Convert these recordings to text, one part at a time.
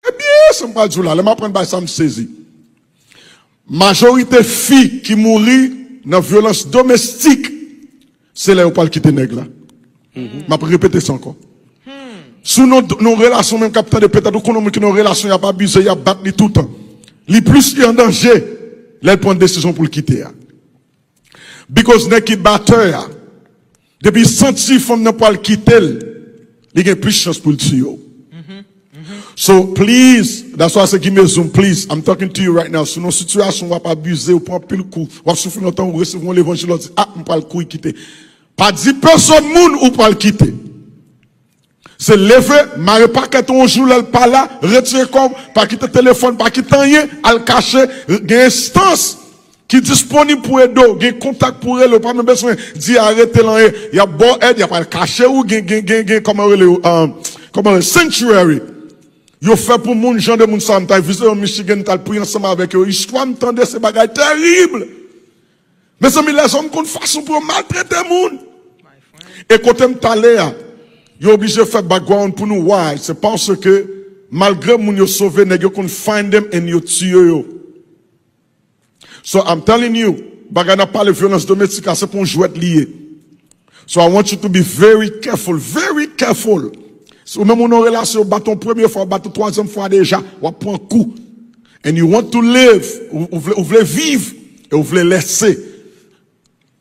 Ebyen sa m pral di w la, lè m aprann bagay sa m sezi. Majorite fi ki mouri nan vyolans domestik se lè yo pral kite nèg la. M ap repete sa ankò. Si w nan yon relasyon menm k ap tande petèt ou konnen yon moun ki nan yon relasyon y ap abize, y ap bat li toutan. Li plis an danje lè l pran desizyon pou l kite a. Bikòz nèg ki batè a. Depi l santi fanm nan pwal kitel li gen plis chans poul tiye w so please that's why I say gime zoom please I'm talking to you right now si nan yon sitiyasyon wap abize ou pran anpil kou wap soufri lontan ou resevwa yon levanjil wap di ah m pwal kouri kite pa di pèsòn moun ou pwal kite Se leve, mare pakèt ou yon jou lè l pa la, retire kò w, pa kite telefòn, pa kite anyen, al kache, gen enstans ki disponib pou ede w, gen kontak pou rele, ou pa menm bezwen di arete l anyen, y ap ba w èd, y ap al kache ou, gen kòman yo rele yo, kòman yo rele, sanctuary yo fè pou moun, jan de moun sa a, m ta vizite yo Michigan, m t al priye ansanm avèk yo, istwa m tande se bagay tèrib. Mezanmi lèzòm konn fason pou yo maltrete moun e kotem pale a yo oblije fè background pou nou why se paske malgre moun yo sove nèg yo konn find them and yo tiye yo so I'm telling you bagay nap pale vyolans domestik la se pa yon jwèt li ye. So I want you to be very careful, very careful Si ou menm ou nan yon relasyon yo bat ou yon premye fwa, yo bat ou twazyèm fwa deja, w ap pran kou And you want to live, ou vle viv e ou vle lese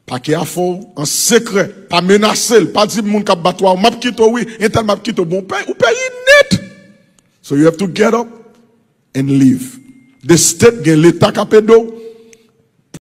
pake a fè w an sekrè Pa menase l, pa di moun k ap bat ou a, m ap kite w wi, entèl m ap kite w Bon ou peri nèt So you have to get up and leave The state gen leta k ap ede w,